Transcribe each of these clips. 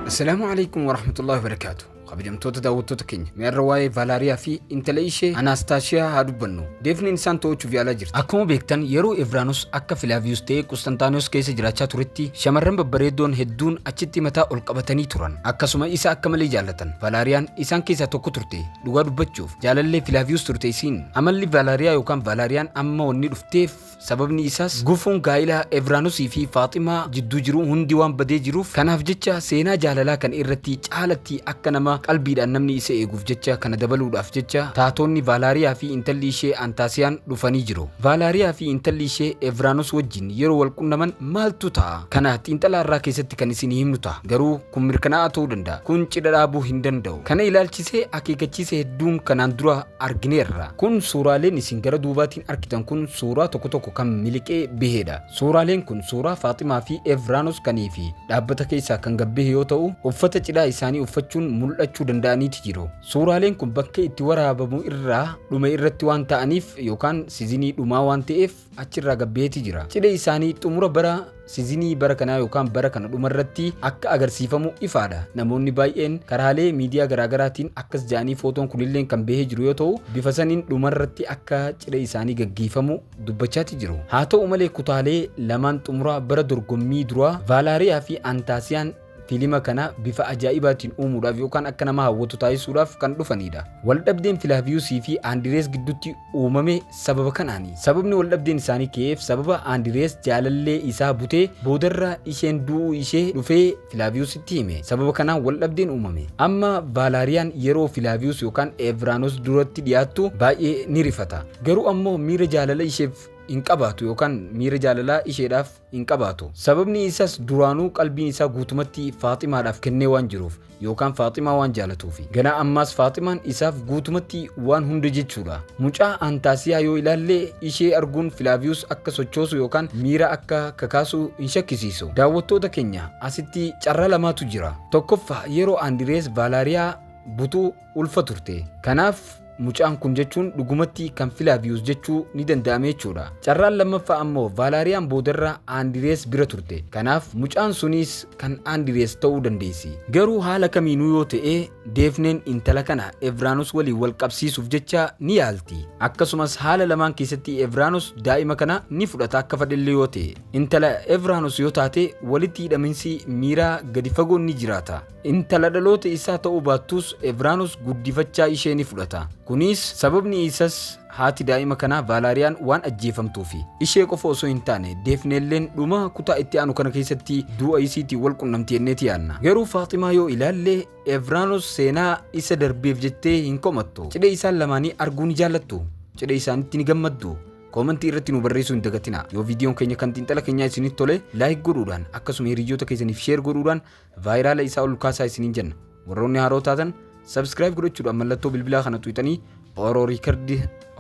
Assalaamu alaikum warahmatullahi wabarakaatu. Kabajamtoota daawwattoota keenya mi'arra waa'ee Vaalaariyaa fi intala ishee Anaastaashiyaa haa dubbannu. Deefneen isaan to'achuuf yaalaa jirti. Akkuma beektan yeroo Evraanus akka Filaaviyus ta'ee Qustantaaniyoos keessa jiraachaa turetti shamarran babbareeddoon hedduun achitti mataa ol qabatanii turan. Akkasuma isa akka malee jaallatan. Vaalaariyaan isaan keessaa tokko turte. Dhugaa dubbachuuf jaalallee Filaaviyus turte isiin. Amalli Vaalaariyaa yookaan Vaalaariyaan amma wanni dhufteef Sababni isaas gufuun gaa'ila Evraanusii fi Faaximaa jidduu jiru hundi waan badee jiruuf kanaaf jecha seenaa jaalalaa kana irratti caalatti akka nama qalbiidhaan namni isa eeguuf jecha kana dabaluudhaaf jecha taatoonni Vaalaariyaa fi intalli ishee Antaasiyaan dhufanii jiru. Vaalaariyaa fi intalli ishee Evraanus wajjin yeroo wal qunnaman maaltu ta'a? Kana xiinxala har'aa keessatti kan isinii himnu ta'a. Garuu kun mirkanaa'aa ta'uu danda'a. Kun cidha dhaabuu hin danda'u. Kana ilaalchisee akeekachiisa hedduun kanaan dura argineerra. Kun suuraaleen isin gara duubaatiin argitan kun suuraa tokko tokko kan miliqee baheedha. Suuraaleen kun suuraa Faaximaa fi Evraanos kan fi dhaabbata keessaa kan gad bahe yoo ta'u, uffata cidhaa isaanii uffachuun mul'achuu danda'aniiti jiru. Suuraaleen kun bakka itti waraabamu irraa dhume irratti waan ta'aniif yookaan sizinii dhumaa waan ta'eef, achi irraa gad baheeti jira. Cidha isaanii xumura bara sizinii bara kanaa yookaan bara kana dhuma irratti akka agarsiifamu ifaadha. Namoonni baay'een karaalee miidiyaa garaagaraatiin akkas ja'anii footoon kunilleen kan bahee jiru yoo ta'u bifa saniin dhuma irratti akka cidha isaanii gaggeeffamu dubbachaati jiru. Haa ta'u malee kutaalee lamaan xumura bara dorgommii duraa Vaalaariyaa fi Antaasiyaan Fiilima kana bifa ajaa'ibaatiin uumuudhaaf yookaan akka nama hawwatu taasisuudhaaf kan dhufanidha. Waldhabdeen Filaaviyuusii fi Andirees gidduutti uumame sababa kanaani. Sababni waldhabdeen isaanii ka'eef sababa Andirees jaalallee isaa butee boodarra isheen du'uu ishee dhufee Filaaviyuusitti hime. Sababa kanaan waldhabdeen uumame. Amma Vaalaariyaan yeroo Filaaviyuus yookaan Eeviraanoos duratti dhiyaattu baay'ee ni rifata. Garuu ammoo miira jaalala isheef hin qabaatu yookaan miira jaalalaa isheedhaaf hin qabaatu. Sababni isas duraanuu qalbiin isaa guutumatti Faaximaadhaaf kennee waan jiruuf yookaan Faaximaa waan jaalatuufi. Ganaa ammaas Faaximaan isaaf guutumatti waan hunda jechuudha. Mucaa Antaasiyaa yoo ilaalle ishee arguun Filaaviyus akka sochoosu yookaan miira akka kakaasu hin shakkisiisu. Daawwattoota keenya asitti carraa lamaatu jira. Tokkoffaa yeroo Andirees Vaalaariyaa butu, ulfa turte. Kanaaf mucaan kun jechuun dhugumatti kan Filaaviyus jechuu ni danda'ame jechuudha. Carraan lammaffaa ammoo Vaalaariyaan boodarra Aandirees bira turte. Kanaaf mucaan suniis kan Aandirees ta'uu dandeessi. Garuu haala kamiinuu yoo ta'e Deefneen intala kana Evraanus waliin wal qabsiisuuf jecha ni yaalti. Akkasumas haala lamaan keessatti Evraanus daa'ima kana ni fudhata akka fadhellee yoo ta'e. Intala Evraanus yoo taate walitti hidhaminsi miiraa gadi fagoon ni jiraata. Intala dhaloota isaa ta'uu baattus Evraanus guddifachaa ishee ni fudhata. Kunis sababni isas haati daa'ima kanaa Vaalaariyaan waan ajjeefamtuufi. Ishee qofa osoo hin taane Deefneelleen dhuma kutaa itti aanu kana keessatti du'a isiitiin wal qunnamti jenneeti yaanna. Garuu Faaximaa yoo ilaalle Evraanus seenaa isa darbeef jettee hin komattu. Cidha isaan lamaanii arguu ni jaallattu. Cidha isaanitti ni gammaddu. Koomantii irratti nu barreessuu hin dagatina. Yoo viidiyoon keenya kan xiinxala keenyaa isinitti tole laayik godhuudhaan akkasuma hiriyyoota keessaniif sheer godhuudhaan Vaayiraala isaa ol kaasaa isiniin jenna. Warroonni haaroo taatan subscribe godhachuudhaan mallattoo bilbilaa kana tuqxanii Oro Record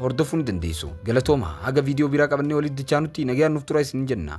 hordofuu ni dandeessu. Galatooma haga viidiyoo biraa qabannee walitti dachaanutti nagayaan nuuf turaa isiniin jenna.